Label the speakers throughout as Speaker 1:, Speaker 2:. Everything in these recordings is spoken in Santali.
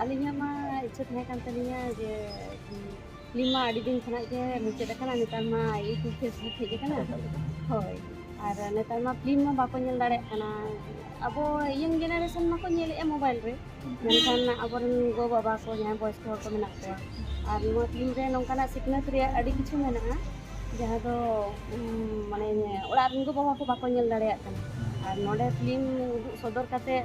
Speaker 1: ᱟᱹᱞᱤᱧᱟᱜ ᱢᱟ ᱤᱪᱪᱷᱟᱹ ᱛᱟᱦᱮᱸ ᱠᱟᱱ ᱛᱟᱹᱞᱤᱧᱟ ᱡᱮ ᱯᱷᱤᱞᱢ ᱢᱟ ᱟᱹᱰᱤ ᱫᱤᱱ ᱠᱷᱚᱱᱟᱜ ᱜᱮ ᱢᱩᱪᱟᱹᱫ ᱟᱠᱟᱱᱟ ᱱᱮᱛᱟᱨ ᱢᱟ ᱤᱭᱩᱴᱩᱵᱽ ᱯᱷᱮᱥᱵᱩᱠ ᱦᱮᱡ ᱟᱠᱟᱱᱟ ᱦᱳᱭ ᱟᱨ ᱱᱮᱛᱟᱨ ᱢᱟ ᱯᱷᱤᱞᱢ ᱢᱟ ᱵᱟᱠᱚ ᱧᱮᱞ ᱫᱟᱲᱮᱭᱟᱜ ᱠᱟᱱᱟ ᱟᱵᱚ ᱤᱭᱚᱝ ᱡᱮᱱᱟᱨᱮᱥᱚᱱ ᱢᱟᱠᱚ ᱧᱮᱞᱮᱫᱼᱟ ᱢᱳᱵᱟᱭᱤᱞ ᱨᱮ ᱢᱮᱱᱠᱷᱟᱱ ᱟᱵᱚᱨᱮᱱ ᱜᱚ ᱵᱟᱵᱟ ᱠᱚ ᱡᱟᱦᱟᱸᱭ ᱵᱚᱭᱚᱥᱠᱚ ᱦᱚᱲ ᱠᱚ ᱢᱮᱱᱟᱜ ᱠᱚᱣᱟ ᱟᱨ ᱱᱚᱣᱟ ᱯᱷᱤᱞᱢ ᱨᱮ ᱱᱚᱝᱠᱟᱱᱟᱜ ᱥᱤᱠᱷᱱᱟᱹᱛ ᱨᱮᱭᱟᱜ ᱟᱹᱰᱤ ᱠᱤᱪᱷᱩ ᱢᱮᱱᱟᱜᱼᱟ ᱡᱟᱦᱟᱸ ᱫᱚ ᱢᱟᱱᱮ ᱚᱲᱟᱜ ᱨᱮᱱ ᱜᱚ ᱵᱟᱵᱟ ᱠᱚ ᱵᱟᱠᱚ ᱧᱮᱞ ᱫᱟᱲᱮᱭᱟᱜ ᱠᱟᱱᱟ ᱟᱨ ᱱᱚᱰᱮ ᱯᱷᱤᱞᱢ ᱩᱫᱩᱜ ᱥᱚᱫᱚᱨ ᱠᱟᱛᱮᱫ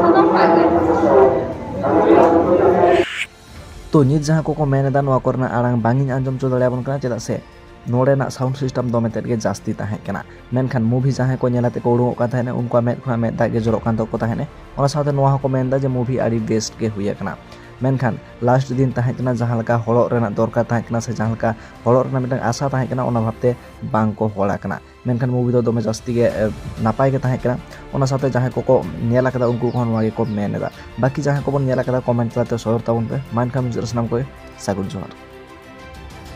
Speaker 2: ᱥᱟᱱᱟᱢ ᱦᱚᱲᱟᱜ ᱜᱮ ᱛᱚ ᱱᱤᱛ ᱡᱟᱦᱟᱸ ᱠᱚᱠᱚ ᱢᱮᱱ ᱮᱫᱟ ᱱᱚᱣᱟ ᱠᱚᱨᱮᱱᱟᱜ ᱟᱲᱟᱝ ᱵᱟᱝ ᱤᱧ ᱟᱸᱡᱚᱢ ᱦᱚᱪᱚ ᱫᱟᱲᱮᱭᱟᱵᱚᱱ ᱠᱟᱱᱟ ᱪᱮᱫᱟᱜ ᱥᱮ ᱱᱚᱰᱮᱱᱟᱜ ᱥᱟᱣᱩᱱᱰ ᱥᱤᱥᱴᱮᱢ ᱫᱚᱢᱮ ᱛᱮᱫ ᱜᱮ ᱡᱟᱹᱥᱛᱤ ᱛᱟᱦᱮᱸ ᱠᱟᱱᱟ ᱢᱮᱱᱠᱷᱟᱱ ᱢᱩᱵᱷᱤ ᱡᱟᱦᱟᱸᱭ ᱠᱚ ᱧᱮᱞ ᱟᱛᱮ ᱠᱚ ᱩᱰᱩᱠᱚᱜ ᱠᱟᱱ ᱛᱟᱦᱮᱸᱱᱟ ᱩᱱᱠᱩᱣᱟᱜ ᱢᱮᱫ ᱠᱷᱚᱱᱟᱜ ᱢᱮᱫ ᱫᱟᱜ ᱜᱮ ᱡᱚᱨᱚᱜ ᱠᱟᱱ ᱛᱟᱠᱚ ᱛᱟᱦᱮᱸᱱᱟ ᱚᱱᱟ ᱥᱟᱶᱛᱮ ᱱᱚᱣᱟ ᱦᱚᱸᱠᱚ ᱢᱮᱱ ᱮᱫᱟ ᱡᱮ ᱢᱩᱵᱷᱤ ᱟᱹᱰᱤ ᱵᱮᱥᱴ ᱜᱮ ᱦᱩᱭ ᱟᱠᱟᱱᱟ ᱢᱮᱱᱠᱷᱟᱱ ᱞᱟᱥᱴ ᱫᱤᱱ ᱛᱟᱦᱮᱸ ᱠᱟᱱᱟ ᱡᱟᱦᱟᱸ ᱞᱮᱠᱟ ᱦᱚᱲᱚᱜ ᱨᱮᱱᱟᱜ ᱫᱚᱨᱠᱟᱨ ᱛᱟᱦᱮᱸ ᱠᱟᱱᱟ ᱥᱮ ᱡᱟᱦᱟᱸ ᱞᱮᱠᱟ ᱦᱚᱲᱚᱜ ᱨᱮᱱᱟᱜ ᱢᱤᱫᱴᱟᱝ ᱟᱥᱟ ᱛᱟᱦᱮᱸ ᱠᱟᱱᱟ ᱚᱱᱟ ᱵᱷᱟᱵᱛᱮ ᱵᱟᱝ ᱠᱚ ᱦᱚᱲ ᱟᱠᱟᱱᱟ ᱢᱮᱱᱠᱷᱟᱱ ᱢᱩᱵᱷᱤ ᱫᱚ ᱫᱚᱢᱮ ᱡᱟᱹᱥᱛᱤ ᱜᱮ ᱱᱟᱯᱟᱭ ᱜᱮ ᱛᱟᱦᱮᱸ ᱠᱟᱱᱟ ᱚᱱᱟ ᱥᱟᱶᱛᱮ ᱡᱟᱦᱟᱸᱭ ᱠᱚᱠᱚ ᱧᱮᱞ ᱟᱠᱟᱫᱟ ᱩᱱᱠᱩ ᱠᱚᱦᱚᱸ ᱱᱚᱣᱟ ᱜᱮᱠᱚ ᱢᱮᱱ ᱮᱫᱟ ᱵᱟᱹᱠᱤ ᱡᱟᱦᱟᱸᱭ ᱠᱚᱵᱚᱱ ᱧᱮᱞ ᱟᱠᱟᱫᱟ ᱠᱚᱢᱮᱱᱴ ᱛᱟᱞᱟᱛᱮ ᱥᱚᱫᱚᱨ ᱛᱟᱵᱚᱱ ᱯᱮ ᱢᱟ ᱮᱱᱠᱷᱟᱱ ᱢᱩᱪᱟᱹᱫ ᱨᱮ ᱥᱟᱱᱟᱢ ᱠᱚᱜᱮ ᱥᱟᱹᱜᱩᱱ ᱡᱚᱦᱟᱨ